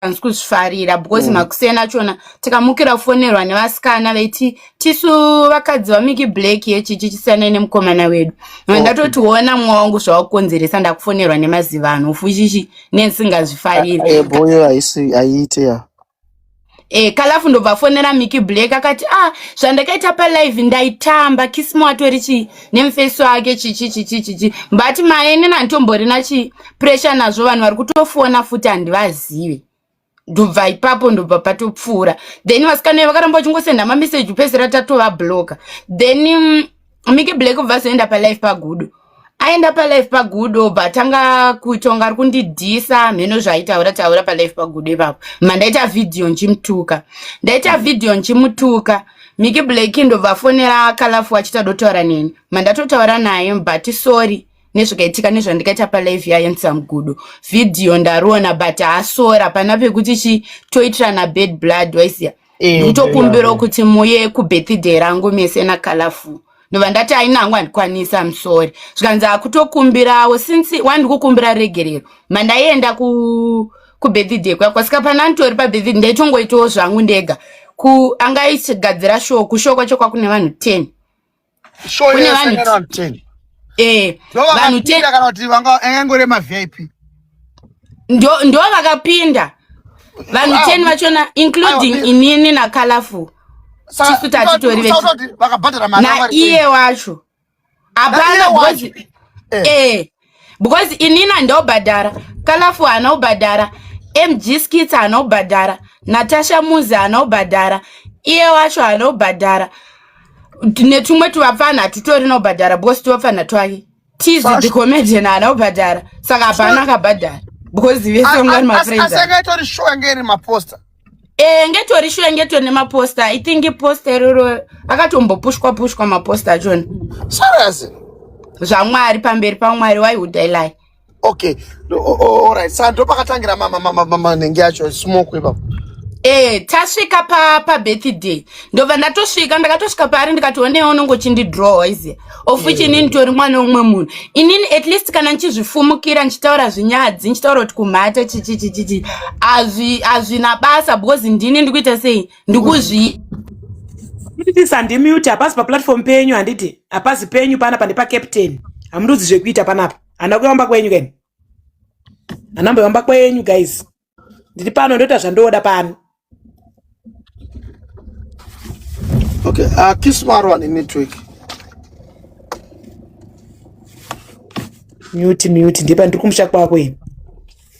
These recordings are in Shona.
hanzi kuzvifarira because mm. makuseni achona tikamukira kufonerwa nevasikana veiti tisu vakadzi vamiki black yechichi chisiyanai nemukomana wedu okay. ndatotiona mwa wangu zvawakukonzeresa ndakufonerwa nemazivano ufuchichi nensingazvifariri ah, eh, boyo haisi aiite ya e eh, kalafu ndobva afonera miki black akati ah zvandakaita palive ndaitamba kisimo atori chii nemufeso ake chichi chichi chichi but maene nantomborina chi pressure nazvo vanhu vari kutofona futi handivazive ndobva ipapo ndobva patopfuura then vasikana iye vakaramba vachingosenda mameseji kupedzisira tatova bloka then um, mike black obva azoenda palife pagudo aenda palife pagudo obva atanga kutonga ari kundidhisa mheno zvaitaura taura palife pagudo ipapo mandaita vhidhiyo nchimutuka ndaita vhidhiyo nchimutuka mm -hmm. Miki Black ndovafonera Kalafu achita dotaura neni. Mandatotaura naye but sorry nezvakaitika nezvandikaita palive yaye nsamgudo video ndariona but asora pana pekuti chi toitirana bad blood waisiya eh, ndikutokumbirawo kuti muye kubirthday rangu mese nakalafu ndobva ndati aina hangu handikwanisi am sorry zvikanzi akutokumbirawo since wandikukumbira regerero mandaienda ku kubirthday kwako asika pana nditori pabirthday ndaitongoitawo zvangu ndega ku anga ichigadzira show kushow kwacho kwakune vanhu ten kune vanhu ten eh vanhu ten kana kuti vanga angangore ma vip ndo ndo vakapinda vanhu ten vachona including inini na colorful chifita achitori naiye wacho hapana because eh. eh because inini handobhadhara kalafu haana kubhadhara mg skits haana kubhadhara natasha muzi haana kubhadhara iye wacho haana kubhadhara netumwe tuvapfanha hatitori nobhadhara because tuvapfanha twake Tizvi the comedian haana kubhadhara saka hapana akabhadhara because vese ungani mafriends. Asi akaitori shuwa ngeri maposter. Eh ngetori shuwa ngetori nemaposter. I think poster iroro akatombopushwa pushwa maposter achona. Serious? Zvamwari pamberi pamwari why would I lie? Okay. All right. Sasa ndo pakatangira mama mama mama nenge yacho smoke ipapo. Eh, tasvika pa pa birthday. Ndobva ndatosvika ndakatosvika paari ndikati onewo unongochindi draw izi. of which inini nditori mwana umwe munhu inini at least kana ndichizvifumukira ndichitaura zvinyadzi ndichitaura kuti kumhata chichichichichi hazvina basa because ndini ndikuita sei ndikuzvi kutiti sandimute hapasi paplatform penyu handiti hapasi penyu pana pane pacaptain hamundudzi zvekuita panapa hana kuyamba kwenyu kani hanamboyamba kwenyu guys ndiri pano ndoita zvandoda pano okay uh, ah, kismaro ane network mute mute ndipa ndiri kumusha kwako ini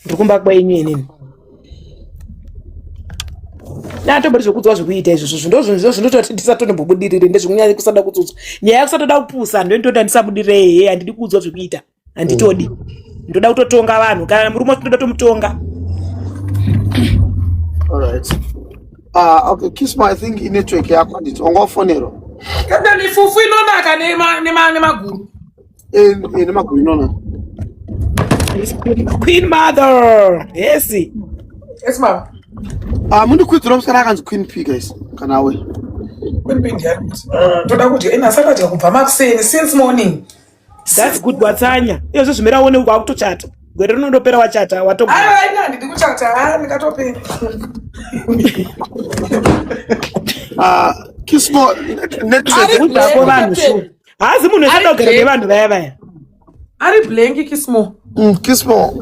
ndiri kumba kwenyu inini natombori zvekudzwa zvekuita izvozvo zvindozvozvo zvinototi ndisatonombobudirire ndezvekunyanya kusada kudzodzwa nyaya yakusatoda kupusa ndointoda ndisabudiree handidi kuudzwa zvekuita handitodi mm. ndoda kutotonga vanhu kana murume wacho ndoda tomutonga alright uh, okay kiss my thing in network yako handiti wanga wafonero kana mifufu inonaka nemaguru eh, eh, nemaguru inonaka queen mother yes yes ma'am uh, mundikwidzira musikana akanzi queen p guys kana we queen p ndiani uh, toda kuti ena sakadya kubva makuseni since morning That's good watsanya. Iyo zvozvimira uone uko akutochata. Gwere rinondopera wachata watogo. Ah, ina handidi kuchata. Ah, ndikatopera. Ah, kismo next week udako vanhu shu. Hazi munhu esada kugara nevanhu vaya vaya. Ari blank kismo. Mm, kismo.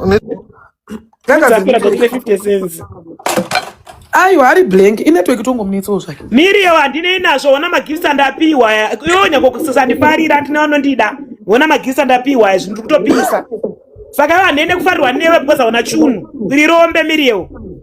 aiwa hari blank inetwork tongomunetsawo zvake miriyo handinei nazvo ona magifts andapiwa iwo nyangokusandifarira handina vanondida ona magifts andapiwa izvi ndiri kutopisa saka iwo handiende kufarirwa newe because hauna chunhu iri rombe miriyo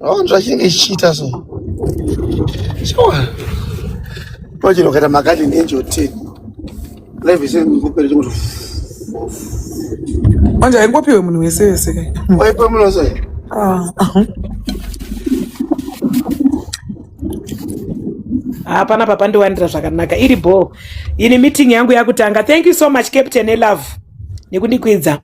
Aona zvachinenge chichiita so. Sure. Imagine ukaita makadhi nenjo 10. Life is in kupera chimwe. Manje haingopiwe munhu wese wese kai. Waipa munhu wese. Ah. hapana papandiwanira zvakanaka iri bho ini meeting yangu yakutanga thank you so much captain elove nekundikwidza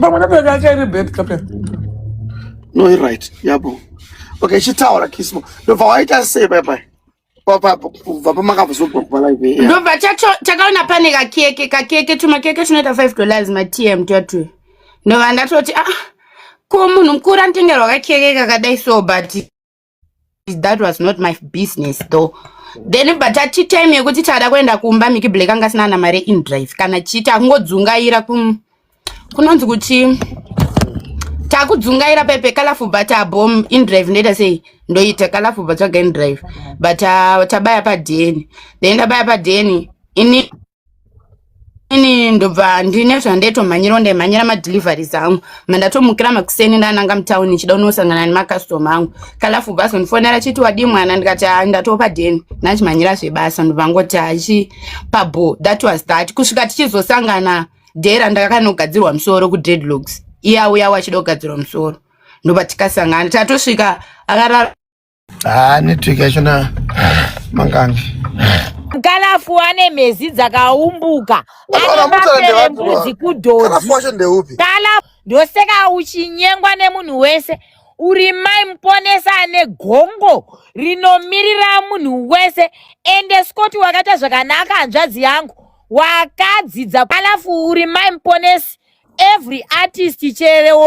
pamwe nebereka yake iri bed captain no i right yabo okay chitaura kismo ndobva waita sei bye bye ndobva takaona pane kakeke kakeke tumakeke tunoita five dollars matm twatwe ndobva ndatoti ah ko munhu mukuru anotengerwa kakeke kakadai so but that was not my business though then but ati time yekuti tada kuenda kumba miki black anga asina ana mari in drive kana chii takungodzungaira ku kunonzi kuti takudzungaira pepe colorful but abom in drive ndoita sei ndoita colorful but tsvaga in drive but uh, tabaya padn then tabaya padn ini ini ndobva ndine zvandetomhanyira ndaimhanyira madeliveries angu mandatomukira makuseni ndananga mutown ndichida unosangana nemacustoma angu kalafu bas ndifonera chiti wadii mwana ndikati ah, ndatopa deni ndachimhanyira zvebasa ndobva ngoti achi pabo that was that kusvika tichizosangana dera ndakakanogadzirwa musoro kudreadlocks iye auya wachida kugadzirwa musoro ndoba tikasangana tatosvika akarara Ah, network yacho na mangange. Mkalafu wane mhezi dzakaumbuka. Anobambere mbudzi kudhodhi. Mkalafu wacho ndeupi? Kala ndoseka uchinyengwa nemunhu wese. Uri mai muponesa ane gongo rinomirira munhu wese ende Scott wakaita zvakanaka hanzvadzi yangu wakadzidza alafu uri mai muponesi every artist chero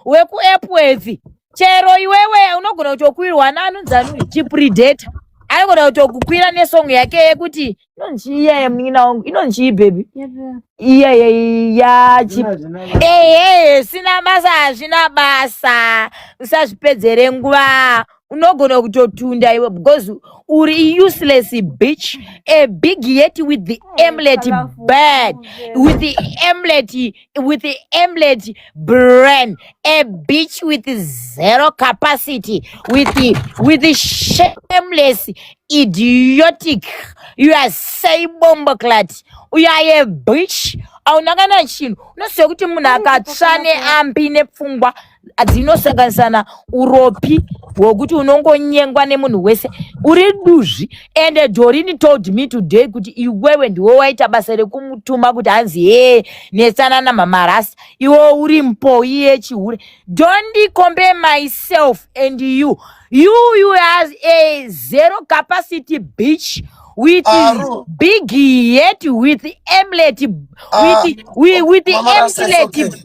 wekuepworth chero iwewe unogona kutokwirwa nanunzanui chipredator anogona kutokukwira nesong yake yekuti inonziiyaye munin'ina wangu inonzii bhebhi iyaye yachi ehe sina basa hazvina basa usazvipedzere nguva unogona kutotunda iwe because uri useless bitch a big yet with the emlet bad with the emlet with the emlet brain a bitch with zero capacity with the, with the shameless idiotic you are say bomboclat you are a bitch auna kana chinhu unoziva kuti munhu akatsva neambi nepfungwa dzinosanganisana uropi hwokuti unongonyengwa nemunhu wese uri duzvi and dorini told me today kuti iwewe ndiwe waita basa rekumutuma kuti hanzi hee netsana namamarasi iwe uri mpoyi yechihure don't compare myself and you you you has a zero capacity beach with Aru. big yet with emlet with, uh, with, with emlet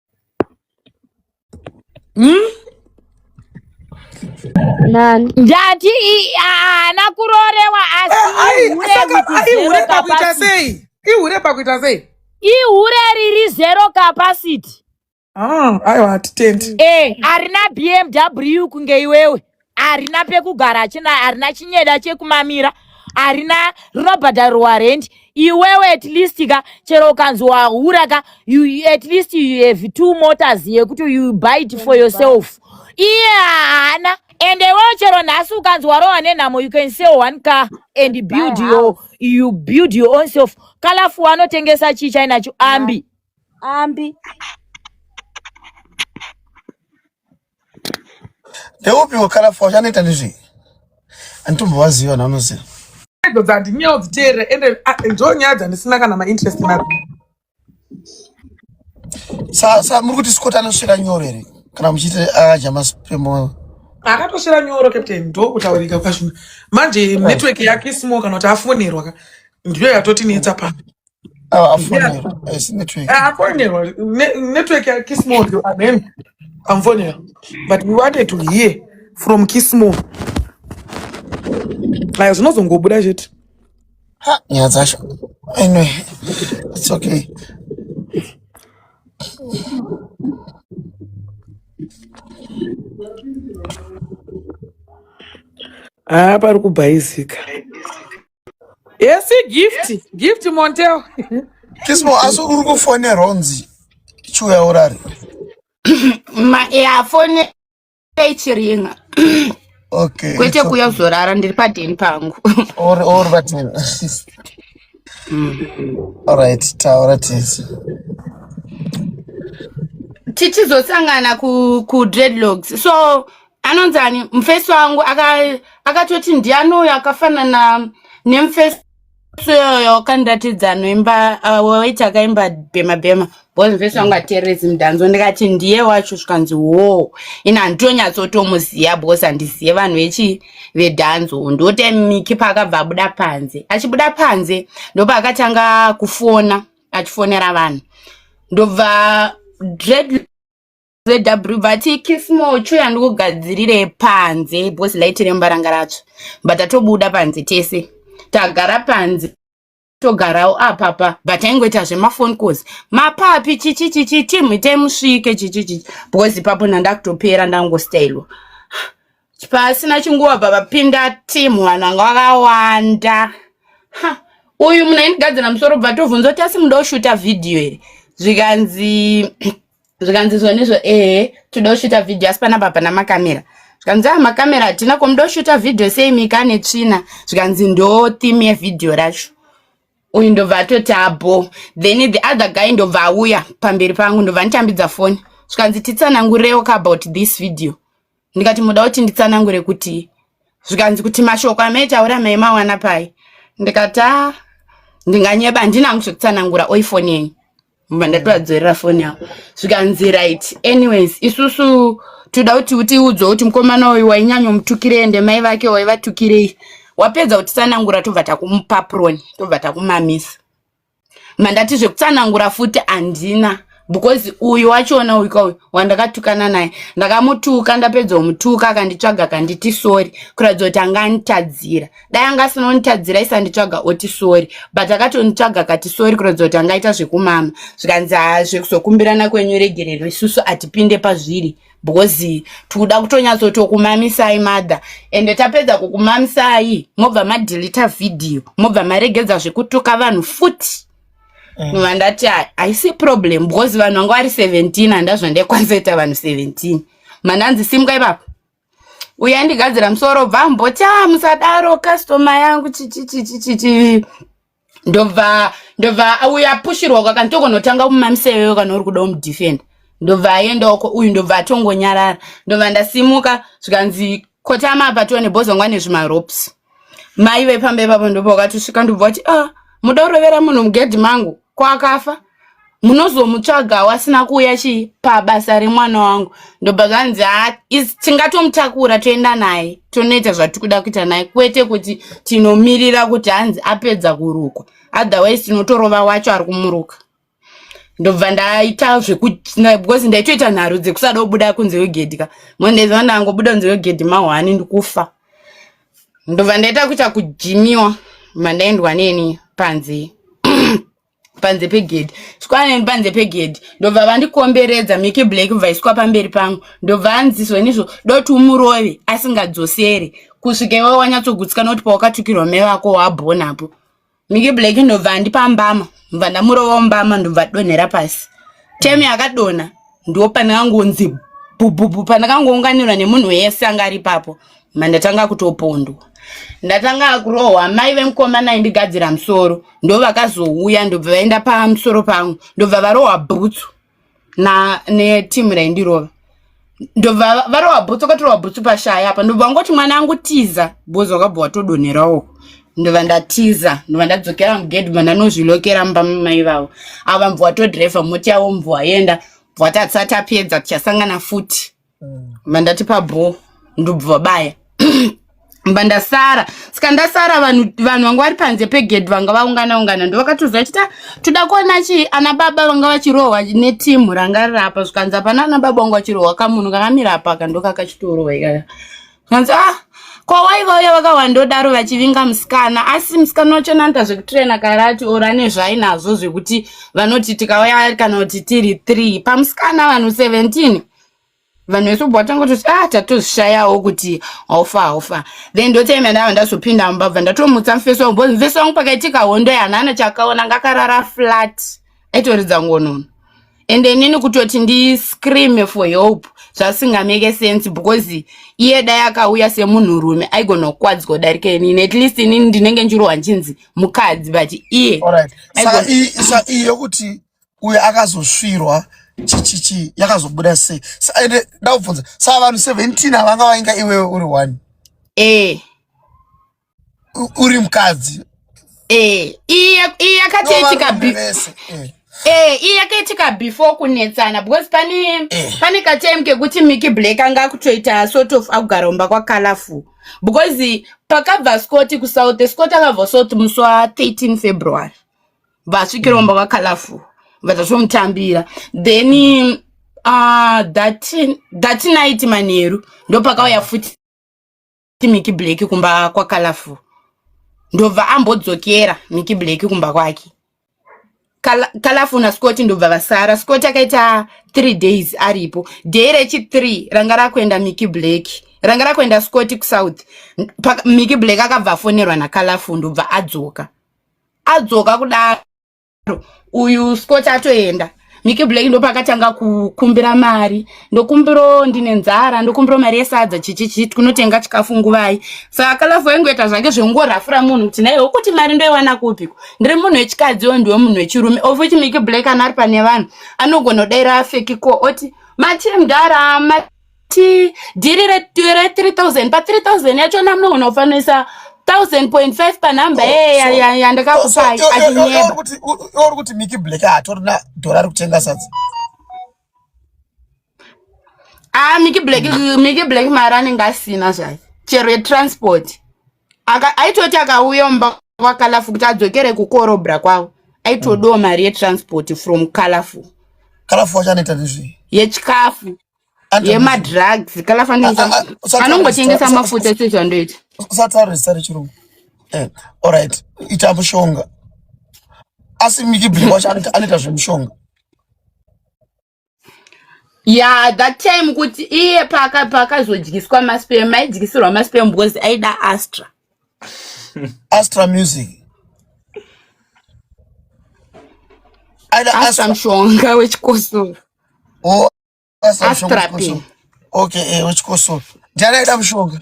hmm? ndati haana kurorewa asiihure eh, pakuita sei ihure pakuita sei ihure riri zero capacity ah, aiwa hatitendi eh, harina bmw kunge iwewe harina pekugara achina harina chinyeda chekumamira harina rinobhadharirwa rendi iwewe at least ka chero ukanzi wahura ka you, at least you have two motors yekuti you buy it for yourself iye haana ende iwewe chero nhasi ukanzi warohwa nenhamo you can sell one car and build your, you build your own self kalafu wanotengesa chii chainacho ambi ambi ndeupi wakarafu wachanoita nezvei anditombovaziva na unoziva idzo dzandinyewo dziteerera ende ah, ndo nyaya dzandisina kana mainterest nadzo sa sa muri kuti scott anosvira nyoro here kana muchiti adya maspemoyo akatosvira nyoro captain ndokutaurika kwazvino manje network yake isimo kana kuti afonerwa ka ndiyo yatotinetsa pano Ah, afonerwa asi network Ah, afonerwa Ne- network ya kismon yo amen amufonera but we wanted to hear from kismon aya zvinozongobuda chete ha nyaya dzacho anyway it's okay haa pari kubhaizika Yes, gift. Yes. Gift Montel. Kismo, asi uri kufonera unzi chiuya urare. Yafone ichiringa. Okay. Kwete kuya kuzorara ndiri padeni pangu. Or or vatini. All right, taura tisi. Tichizosangana ku ku dreadlocks. So anonzi ani mufesi wangu akatoti aka ndiani uyo akafanana nemufesi iyoyo kandiratidza noimba uh, waiti akaimba bhema bhema bcause mufesi wangu ateerezi mudhanzo ndikati ndiye wacho zvikanzi wo ini handitonyatsotomuziva bcause handizive vanhu vechi vedhanzo ndote miki paakabva abuda panze achibuda panze ndopaakatanga kufona achifonera vanhu ndobva dread zw vati kismo cho yandikugadzirire panze because light rembaranga racho but atobuda panze tese tagara panze togarawo apapa but aingoita zvemafone calls mapapi chichi chichi tim taimusvike chichi chichi because ipapo ndandakutopera ndangostailwa pasina chinguva bva vapinda tim vanhu vanga vakawanda ha uyu munhu aindigadzira musoro bva tovhunza kuti asi muda kushuta vhidhiyo here zvikanzi zvikanzi izvo nezvo ehe toda kushuta vhidhiyo asi panapa hapana makamera zvikanzi a makamera hatina ko muda kushuta vhidhiyo sei mika ane tsvina zvikanzi ndo theme yevhidhiyo racho uyu ndobva atoti abo then the other guy ndobva auya pamberi pangu ndobva nditambidza foni zvikanzi titsanangurewo ka about this video ndikati muda kuti nditsanangure kuti zvikanzi kuti mashoko amaitaura maimawana pai ndikati a ndinganyeba handina hangu zvekutsanangura oi foni yenyu mba ndatowadzorera foni yavo zvikanzi right anyways isusu toda kuti utiudzwe kuti mukomana uyu wainyanya mutukirei ende mai vake waivatukirei wapedza kutitsanangura tobva takumupapuroni tobva takumamisa mandati zvekutsanangura futi handina because uyu wachiona uyu kauyu wandakatukana naye ndakamutuka ndapedza kumutuka akanditsvaga akanditi sori kuratidza kuti anga anitadzira dai anga asina kunitadzira isanditsvaga oti sori but akatonitsvaga akati sori kuratidza kuti angaita zvekumama zvikanzi hazvekuzokumbirana kwenyu regerero isusu hatipinde pazviri because tikuda kutonyatsotokumamisai mother ende tapedza kukumamisai mobva madelita vhidhiyo mobva maregedza zvekutuka vanhu futi mm. nova ndati haisi problem because vanhu vanga vari 17 handa zvandekwanzoita vanhu 17 mananzi simka ipapo uya ndigadzira musoro bva mboti a ah, musadaro customer yangu chichichichichichi ndobva ndobva auya apushirwa uko akanzi tokonotanga kumamisa iwewe kana uri kuda umudefenda ndobva aenda uko uyu ndobva atongonyarara ndobva ndasimuka zvikanzi kotama apa tione bhozongwa nezvimarops mai vepamba ipapo ndobva wakatosvika ndobva wati a ah, muda kurovera munhu mugedhi mangu ko akafa munozomutsvagawo asina kuuya chii pabasa remwana wangu ndobva zvanzi ha tingatomutakura toenda naye tonoita zvatiri kuda kuita naye kwete kuti tinomirira kuti hanzi apedza kurukwa otherwise tinotorova wacho ari kumuruka ndobva ndaita zvekubecause ndaitoita nharo dzekusada kubuda kunze kwegedhi ka mondaiziva ndangobuda kunze kwegedhi mahwani ndikufa ndobva ndaita kuita kujimiwa mandaendwa neni panzee panze pegedhi svikwaneni panze pegedhi ndobva vandikomberedza mike black bvaiswa pamberi pangu ndobva anziswa inizvo doti umurove asingadzoseri kusvika iwe wanyatsogutsikana kuti pawakatukirwa mai vako wabhonapo mike black ndobva andipa mbama ndobva ndamurova mbama ndobva donhera pasi temi yakadonha ndo pandakangonzi bhubhubhu pandakangounganirwa nemunhu wese anga ari papo mandatanga kutopondwa ndatanga kurohwa mai vemukomana aindigadzira musoro ndo vakazouya ndobva vaenda pamusoro pangu ndobva varohwa bhutsu na netimu raindirova ndobva varohwa bhutsu vakatorwa bhutsu pashaya apa ndobva vangoti mwana angu tiza bhozi wakabva watodonherawo ndova ndatiza ndova ndadzokera mugedhi manda anozvilokera mumba mamai vavo avo vambva watodhirevha moti yavo mbva waenda bva tatisati apedza tichasangana futi mm. mba ndatipa bho ndobva vabaya mba ndasara saka ndasara vanhu vanhu vanga vari panze pegedhi vanga vaungana ungana ndo vakatoziva chita ah, toda kuona chi ana baba vanga vachirohwa netimu ranga rirapa zvikanzi hapana ana baba vanga vachirohwa kamunhu kakamira apa kandokakachitorohwa ikaka hanzi ah kwawaiva uya vakawandodaro vachivinga musikana asi musikana wacho nanta zvekutirena karati or ane zvainazvo zvekuti vanoti tikauya kana kuti tiri three pamusikana vanhu 17 vanhu vese ubva vatanga kutoti ah tatozvishayawo kuti haufa haufa then ndotaima ndava ndazopinda mubva bva ndatomutsa mufesi wangu bcause mufesi wangu pakaitika hondo yanhana chakaona ngakarara flat aitoridza ngonono and inini kutoti ndiscreame for help zvasingameke sense because iye dai akauya semunhurume aigona kukwadzwa darika inini at least inini ndinenge ndichirohwa ndichinzi mukadzi but iye saka iyi yokuti uyo akazosvirwa chichichi yakazobuda sei ende ndakubvunza saa vanhu seventeen avanga vainga iwewe uri one ee eh. uri mukadzi eh, iyi yakatoitika Eh, iye yakaitika before kunetsana because pane eh. pane katime kekuti Mickey Black anga akutoita sort of akugaromba kwa colorful because pakabva Scott ku South Scott akabva South musi wa 13 February vasvikiromba kwa colorful vatazomutambira then uh, that, that night manheru ndopakauya futi ti miki black kumba kwa colorful ndobva ambodzokera miki black kumba kwake colorful na scott ndobva vasara scott akaita three days aripo day rechi three ranga rakuenda miki black ranga rakuenda scott kusouth miki black akabva afonerwa na colorful ndobva adzoka adzoka kudaro uyu scott atoenda miki black ndopakatanga kukumbira mari ndokumbiro ndine nzara ndokumbiro mari yesadza chichichi tinotenga chikafu nguvai saka lafu waingoita zvake zvekungorafura munhu kuti naiwe kuti mari ndoiwana kupiko ndiri munhu wechikadzi wo ndiwe munhu wechirume ofuti miki black anari pane vanhu anogona kudaira afekiko oti machimdara ti dhiri re 3000 pa 3000 yacho na munogona kufanisa 1000.5 pa number eya yandakakupai achinyeba uri kuti miki black atorina dhora rikutenga sadza ah miki black miki black mari anenge asina zvake chero yetransport aitoti akauya mumba kwakalafu kuti adzokere kukorobra kwavo aitodawo mari yetransport from kalafu kalafu wacho anoita nezvei yechikafu yemadrugs kana fananianongotengesa mafuta chete zvandoita usataurisa rechirungu eh, orit ita mushonga asi mikibri wacho anoita zvemushonga ya that time kuti iye paakazodyiswa maspem aidyisirwa maspem because aida astra astra music aida astra mushonga wechikosoro oh. astrapi okay eh wechikosoro ndiani aida mushonga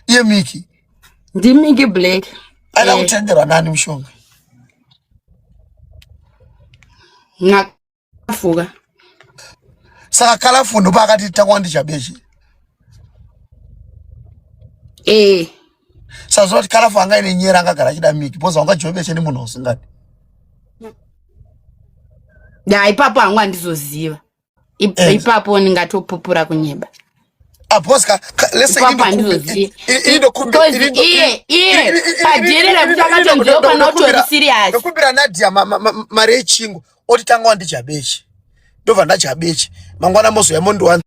iye miki ndimiki black aida eh. kutenderwa nani mushonga nakafuka saka kalafu ndopa akati takwandichabechi eh saziva kuti karafu anga ine nyera angagara achida miki bcause wanga joveshe nemunhu usingadi ya ipapo hangu handizoziva eh. ipapo ndingatopupura kunyeba aposka leseindokubeiye padhiri rekuti akatonzweuka notori sirias ndokumbira nadia mari yechingo oti tanga wandijabechi ndobva ndajabechi mangwana mozouya mondiwanza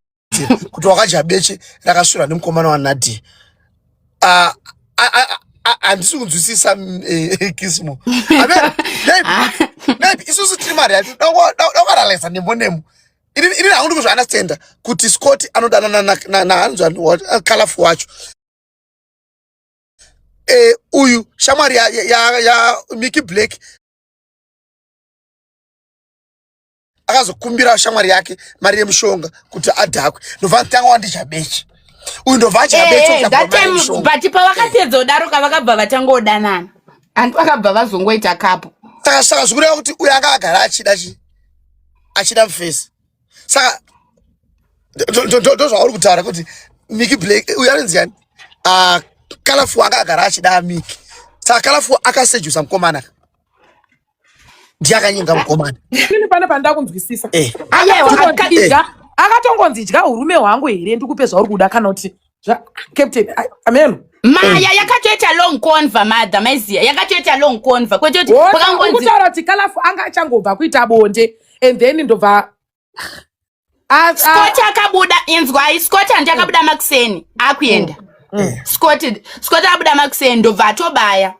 kuti wakadya beche rakasvira nemukomana wanadia ah, handisi kunzwisisa mm, eh, eh, kismo maybe isusu tiri mari yacho dakuaralyza nembo nemo ini hangundi kuzviunderstanda kuti scott anodanana nahanzi eh, colorful wacho uyu shamwari yamiki black akazokumbira shamwari yake mari yemushonga kuti adhakwe ndobva nditanga wandidya beche uyu ndobva adya beche eh, eh, but pavakapedza kudaro kavakabva vatanga kudanana hanti vakabva vazongoita kapo saka saka zvikureva kuti uyo anga agara achida chi achida mufesi saka ndozvauri kutaura kuti miki black uyo anonzi yani ah, kalafu anga agara achida miki saka kalafu akasejusa mukomana ndiye akanyenga mukomana ini pana pandakunzwisisa eh. akatongonzidya eh. akatongonzidya urume hwangu here ndikupe zvauri kuda kana kuti captain ameno maya eh. yakatoita long conva madha maiziya yakatoita long conva kwete kuti kutaura kuti kalafu anga achangobva kuita bonde and then ndobva Ah, ah. scott akabuda inzwai scott handi akabuda makuseni akuenda mm, mm. scott scott akabuda makuseni ndobva atobaya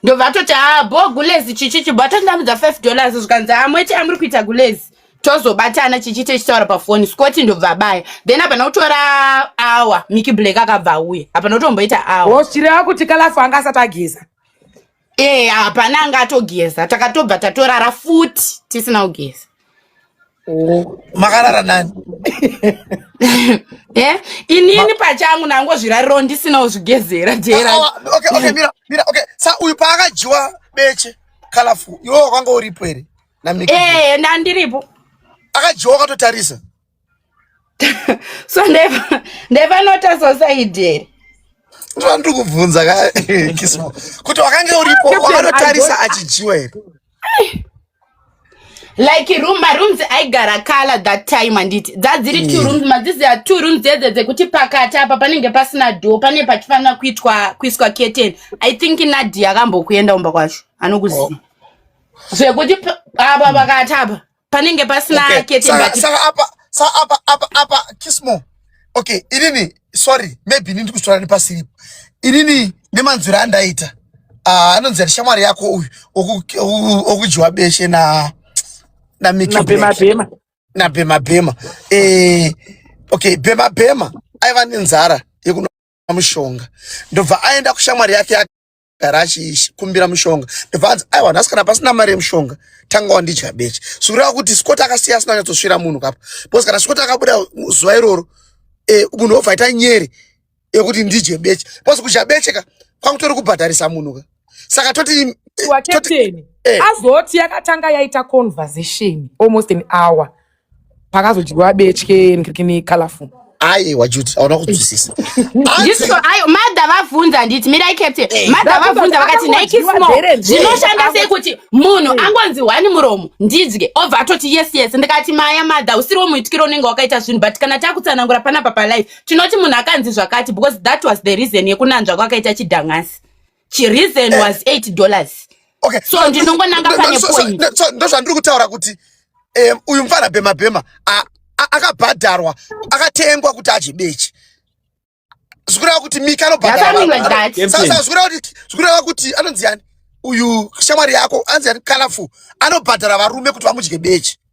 ndobva atoti haa ah, bo gulezi chichi chibho atondamudza five dollars zvikanzi amweti amuri kuita gulezi tozobatana chichi techitaura pafoni scott ndobva abaya then hapana kutora awa miki black akabva auya hapana kutomboita awa chireva kuti kalafu anga asati ageza ee eh, hapana anga atogeza takatobva tatorara futi tisina kugeza makarara nani eh, inini pachangu nangozvirariro ndisina kuzvigezera jeraoksa uyu paakadyiwa beche kalafu iwe wakanga uripo here ee eh, ndandiripo akadyiwa wakatotarisa so ndevanota sosaidi here ndivandiri kubvunza kismo kuti wakange uripo wakanotarisa achidyiwa here like room marooms aigara kala that time anditi dzadziri two mm. rooms madzizi a two rooms dzedze dzekuti pakati apa panenge pasina do pane pachifanira kuitwa kuiswa keten i think nadi akambokuenda umba kwacho anokuziva oh. zvekuti apa pakati apa panenge pasina okay. kete saka, but... saka apa sa apa apa apa kismo okay inini sorry maybe inini ndikuzvitaura nepasiripo inini nemanzwiro andaita ah, anonzi uh, shamwari yako uyu okudyiwa beshe na namikibhemabhema na bhemabhema eh, okay bhemabhema aiva nenzara yekuna mushonga ndobva aenda kushamwari yake gara achikumbira mushonga ndibvanzi aiwa vanhu asikana pasina mari yemushonga tanga wandidya beche zvikureva kuti scott akasiya asina kunyatsosvira munhu kapa because kana scott akabuda zuva iroro e, munhu obva aita nyere yekuti ndidye beche because kudya beche ka kwangutori kubhadharisa munhu ka saka toti wakepteni eh. azoti yakatanga yaita conversation almost an hour pakazodyiwa betye nkirikini colorful aiwa juti aona kunzwisisa ndisvo ayo madha vabvunza handiti mirai captain Eh. madha vabvunza vakati Ndakabva nike ndadyiwa small bere nzee. zvinoshanda sei kuti munhu angonzi hwani muromo ndidye obva atoti yes yes ndikati maya madha usiriwo muitikiro unenge wakaita zvinhu but kana takutsanangura panapa palife tinoti munhu akanzi zvakati because that was the reason yekunanzva kwakaita chidhang'asi chireason was 8 dollars okay so ndinongonanga pane point ndozvandiri kutaura kuti um, uyu mfana bhema bhema akabhadharwa akatengwa kuti adye bechi zvikureva kuti mika anobhadharazvikureva kuti kuti anonzi yani uyu shamwari yako anzi yani kalafu anobhadhara varume kuti vamudye bechi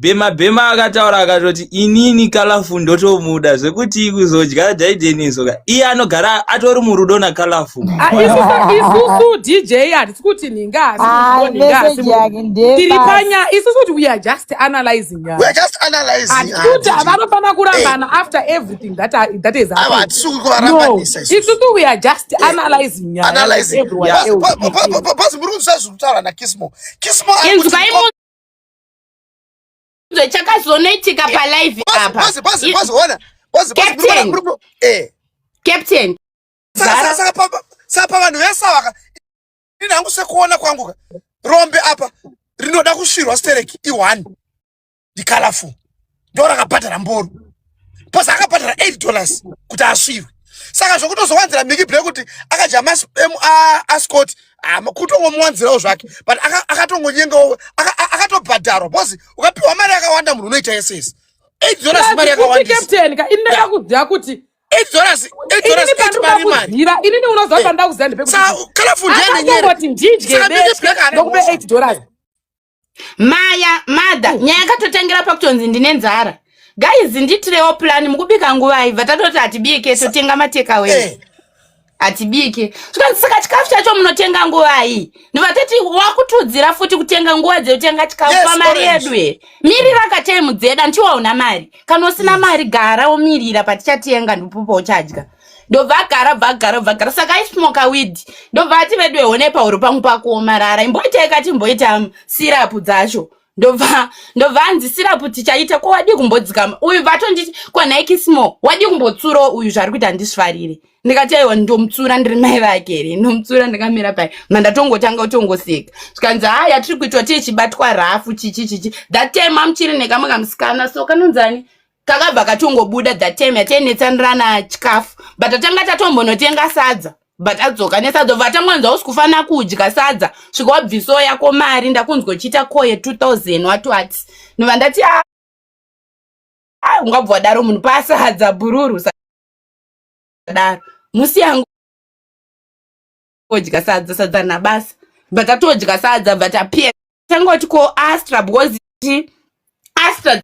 bhema bhema akataura akatoti inini kalafu ndotomuda zvekuti kuzodya jaidenisoka iye anogara atori murudo nakalafu ah, isusu dj hatisi kuti nhingaasitiri ah, panya isusu kuti weare just analyzing hatikuti havanofanira kurambana after everything that, that is isusu weare just analyzing nyaya everyone else chakazonoitika palive apa captain sapa vanhu vese avaka ini hangu sekuona kwangu rombe apa rinoda kusvirwa stereki iwani ndicolorful ndo rakabhadhara mboro bcause akabhadhara 8 dollars kuti asvirwe saka zvokutozowanzira miki black kuti akadya maascot kutongomuwanzirawo zvake but akatongonyengawo akatobhadharwa bcause ukapiwa mari yakawanda munhu unoita yese yese 8 dollars mari yakawandisainaka ini ndakakuziva kuti inini unoziva eh. pandakuziva ndipekuti ndidye ndokube 8 dollars maya mother nyaya yakatotangira pakutonzi ndine nzara guys nditirewo plan mukubika nguva ibva tatoti hatibike totenga matekawe eh. hatibike zvikanzi saka chikafu chacho munotenga nguvai ndiva tati wakutiudzira futi kutenga nguva dzekutenga chikafu yes, pamari yedu e mirira kataimu dzeda ndichiwa una mari kana usina mari gara womirira patichatenga ndipopa uchadya ndovagara vagara vagara saka aismoka widi ndobva ati vedu ehone pahuro pangu pakuomarara imboitai kati mboita sirapu dzacho ndobva ndobva anzi sirapu tichaita ko wadii kumbodzikama uyu vatonditi ko nike small wadii kumbotsurawo uyu zvaari kuita handisvarire ndikati aiwa ndomutsura ndiri mai vake here ndomutsura ndikamira pai mandatongotanga kutongoseka zvikanzi ha yatiri kuitwa tiye chibatwa rafu chichi chichi that time amuchiri nekamwe kamusikana so kanonzani kakabva katongobuda that time yatainetsanirana chikafu but tatanga tatombonotenga sadza but adzoka nesadza bva atangonzwa usi kufanira kudya sadza svika wabviso yako mari ndakunzwa uchiita koye 2000 wati wati nova ndati ah, ah, ungabva wadaro munhu pasadza bhururu sadaro musi yangu odya sadza sadza nabasa bva tatodya sadza bva tapia tanga kuti ko astra because astra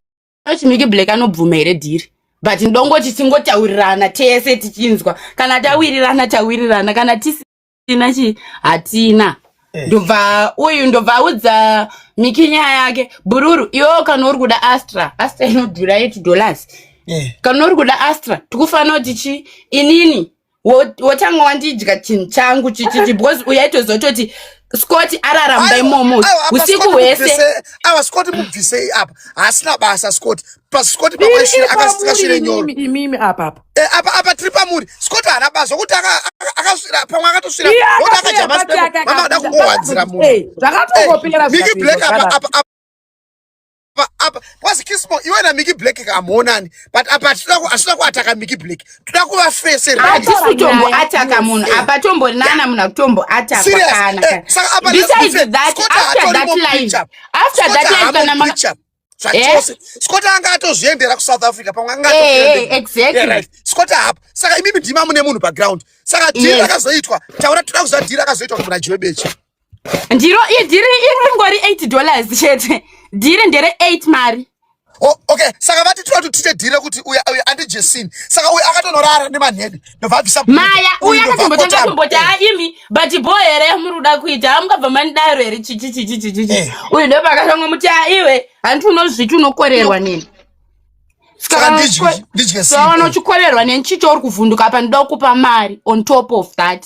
chimiki black anobvuma here dhiri but ndongoti tingotaurirana tese tichinzwa kana tawirirana tawirirana kana tisina chi hatina eh. ndobva uyu ndobva audza miki nyaya yake bururu iwewo kana uri kuda astra astra inodhura eight dollars eh. kana uri kuda astra tikufanira kuti chi inini wotanga wandidya chinhu changu chichichi because uyaitozototi scott araramda imomo usiku hwese awa scott mubvisei apa haasina basa scott pascott pawaishira akasikashire nyoro imimi apa apa eh, apa apa tiri pamuri scott haana basa kuti akasvira pamwe akatosvira oti akadya masmama ada kungowanzira munhu eh, zvakatongopera miki black apa apa apa kwazi kismo iwe na Mickey Black kamuonani but apa tinoda ku asina kuataka Mickey Black tinoda kuva face re ati kutombo ataka munhu apa tombo nana munhu kutombo ataka kana eh, saka apa besides that after that line after that line kana ma zvachose eh? scott anga atozviendera kusouth africa pamwe anga eh, exactly scott apa saka imimi ndima mune munhu background saka dhiri rakazoitwa taura toda kuziva dhiri rakazoitwa kumuna jiwebechi ndiro idhiri iri ringori 8 dollars chete dhiri ndere 8 mari Oh, okay saka vati tinoda kuti tiite dhire kuti uya uya andijesini saka uya akatonorara nemanhede ndobva abvisa maya uya akatombotanga kumboti aimi but bho here muri kuda kuita amukabva manidaro here chichi chichi chichi eh. uyu ndopa akatanga muti aiwe hanti unozviti unokorerwa nini sakaona uchikorerwa neni chicho uri kuvhunduka apa ndida kukupa mari on top of that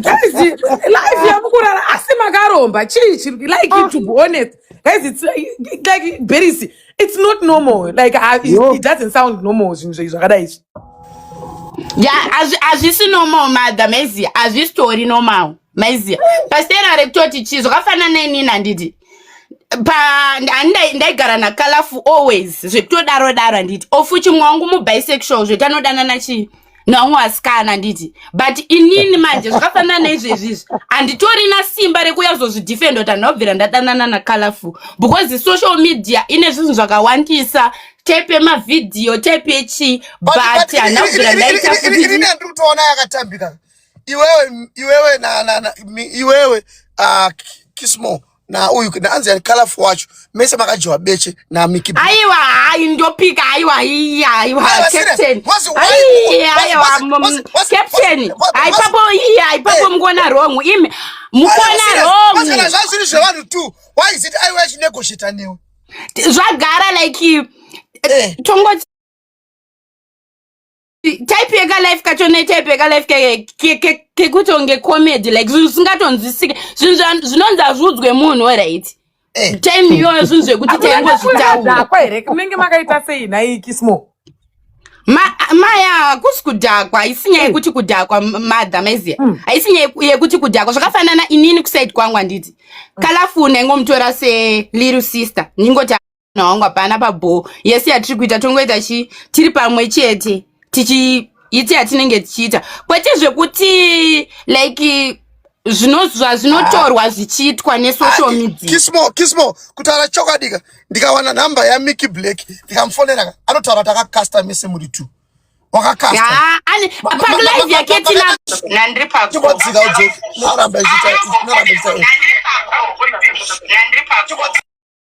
guys life yamukurara asi makaromba chii chiri like ah. to be honest guys it's like berisi it's not normal like uh, it, it doesn't sound normal zvinhu zvenyu zvakadai izvi ya hazvisi normal madha maiziya hazvisitori normal maiziya pasitera rekutoti chii zvakafanana neinini handiti ndaigara nakalafu always zvekutodaro daro handiti ofuti mwangu mubisexual zvekanodanana chii naumwe asikana handiti but inini manje zvakafanana neizvezvi izvi handitorina simba rekuuya kuzozvidefenda kuti handinobvira ndadanana nacolorful because social media ine zvinhu zvakawandisa type yemavhidhiyo type yechii but handina kubvira ndaita kutiutoona yakatambika iwewe iwewe iwewe ah, kismo na uyu na anzi colorful wacho mese makajiwa beche na Mickey Blue. Aiwa hayi ndopika aiwa iya aiwa captain. Aiwa aiwa captain. Hayi papo iya hayi papo mukona wrong imi mukona wrong. Pasana zvazviri zvevanhu tu why is it aiwa chinegotiator newe. Zvagara like eh. tongo type yeka life kacho ne type yeka life kekuti onge comedy like zvinhu zvisingatonzwisike zvinhu zvinonzi hazviudzwe munhu right eh. time iyoyo zvinhu zvekuti taingozvitaurako here kunenge makaita sei nhai kismo maya hakusi kudhakwa haisi nyaya hmm. yekuti kudhakwa madha maiziya hmm. haisi nyaya yekuti kudhakwa zvakafanana inini kusaidi kwangu handiti hmm. kalafuna ingomutora seliru sister ndingoti mwana wangu hapana pabhoo yese yatiri kuita tongoita chi tiri pamwe chete tichi iti yatinenge tichiita kwete zvekuti like zvinozwa zvinotorwa zvichiitwa nesocial ah, media kismo kismo kutaura chokwadika ndikawana number ya Mickey Black ndikamufonera anotaura kuti akakasta mese muri two wakakasta ah, ani pa live yake tina nandri pa ko dzika udzo noramba ichita noramba ichita nandri pa ko nandri pa ko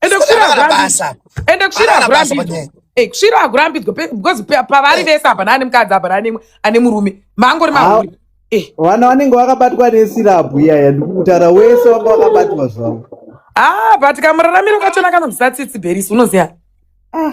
ende kusvira hakurambidzwe ende kusvira hakurambidzwe eh, kusvira hakurambidzwe because pavari eh. vese hapana ane mukadzi hapana ane murume maangori mahuri eh. vana vanenge vakabatwa nesirabhu iyaya ndikutara wese wanga wakabatwa zvavo ah but kamuraramiro kachona kanobvisa tsitsi berisi unoziva ah.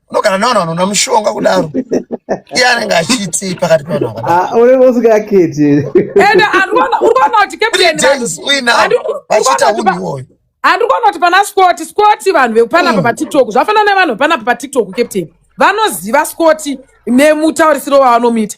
unogara navanhu vanona mushonga kudaro iye anenge achiitii pakati pavanhu vakadaro unenge usingaketi ende andikuona urikuona kuti captain James uina vachiita hunhu iwoyo andikuona kuti pana scoti scoti vanhu vekupanapa mm. patiktok zvafanana nevanhu vepanapa patiktok captain vanoziva scoti nemutaurisiro wavanomuita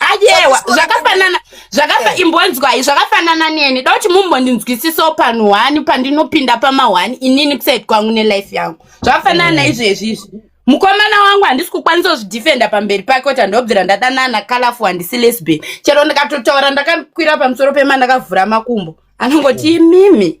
ayewa zvakafanana zvakafa eh. imbonzwai zvakafanana neni da kuti mumbondinzwisisawo panhu hwani pandinopinda pamahwani inini kusaid kwangu nelife yangu zvakafanana mm. naizvezvi izvi mukomana wangu handisi kukwanisa kuzvidefenda pamberi pake kuti handobvira ndadanana kalafu handisi lesbian chero ndikatotaura ndakakwira pamusoro pema ndakavhura makumbo anongoti imimi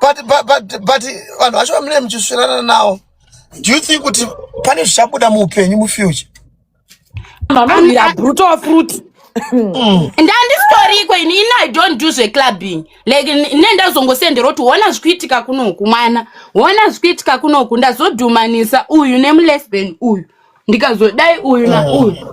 but but but but vanhu vacho vamune muchisvirana nawo do you think kuti pane zvichabuda muupenyu mufuture mama mira brutal fruit Mm. ndandisitoriko ini ini i don't do zveclubbing like ne ndazongosendera kuti hona zvikuitika kunoku mwana hona zvikuitika kunoku ndazodhumanisa uyu nemulesben uyu ndikazodai uyu nauyu mm.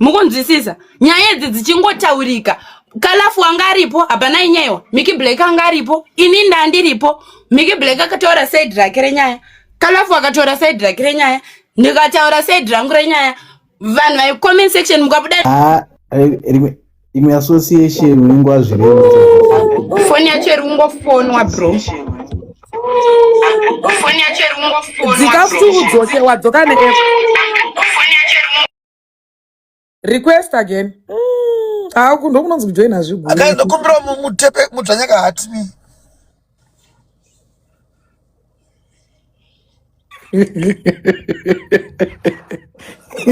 mukunzwisisa nyaya idzi dzichingotaurika kalafu anga aripo hapana inyaiwa miki black anga aripo ini ndandiripo miki black akataura said rake renyaya kalafu akataura said rake renyaya ndikataura said rangu renyaya vanhu vaicomment section mukabuda ah, imwe association unenge wazvirei foni yacho iri kungofonwa bro foni yacho iri kungofonwa dzika kuti udzoke wadzoka neapp request again mm, ah, uku ndokunonzi kujoina zviguru akaenda kumbira mu- mutepe mudzvanyaka hati ni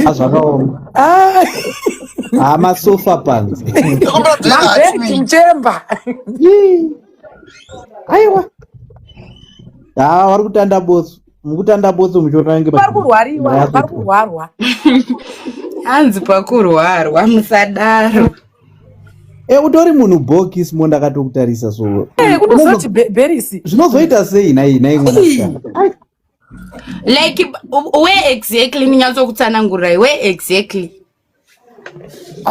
azvakaoma Ah, haa masofa panze kumbira mudzvanyaka hati mabed ni mchemba Yii. aiwa haa vari kutanda botso mukutanda botso muchotange vari kurwariwa vari kurwarwa hanzi pakurwarwa musadaro e utori munhu bokis mo ndakatokutarisa so eh, unozoti berisi zvinozoita sei nai nai mwanasikana like where exactly ndinyatsokutsanangurirai where exactly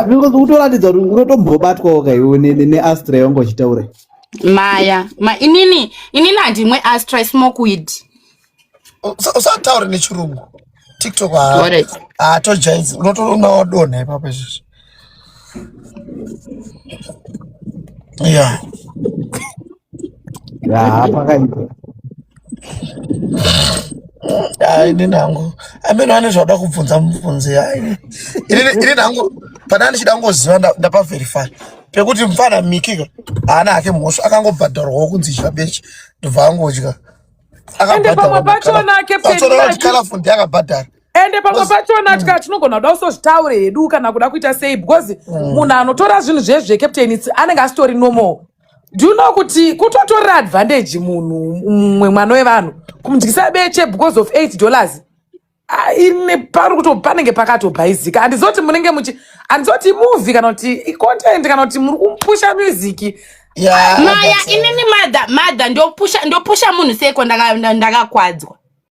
because utoratidza kuti unotombobatwawo kaiwo neastra yongo chitaura maya ma inini inini handimwe astra smoke weed usataure nechirungu tiktok hatojaizi unotoona wadonha ipapo izvizvi ya yaa pakaita Ah, ini nangu ameno ane zvauda kubvunza mubvunzi hai ini nangu pana ndichida kungoziva nda- ndapaverify pekuti mfana mikika haana hake mhosva akangobhadharwawo kunzi idya beche ndobva angodya ende pamwe akabhadharwa pacho makala nake atora kuti perinaki kalafu ndiye akabhadhara ende pamwe Because- pacho natya tinogona kuda kusozvitaure hedu kana kuda kuita sei because munhu anotora zvinhu zvezve captain it's- anenge asitori normal do you know kuti kutotorera advantage munhu mumwe mwana wevanhu kumudyisa beche because of 8 dollars Ah, ine pari kuto panenge pakatobhaizika handizoti munenge muchi handizoti movie kana kuti icontent kana kuti muri kumpusha music Yeah, maya that's it. inini madha madha ndopusha ndopusha munhu seiko ndaka- nda- ndakakwadzwa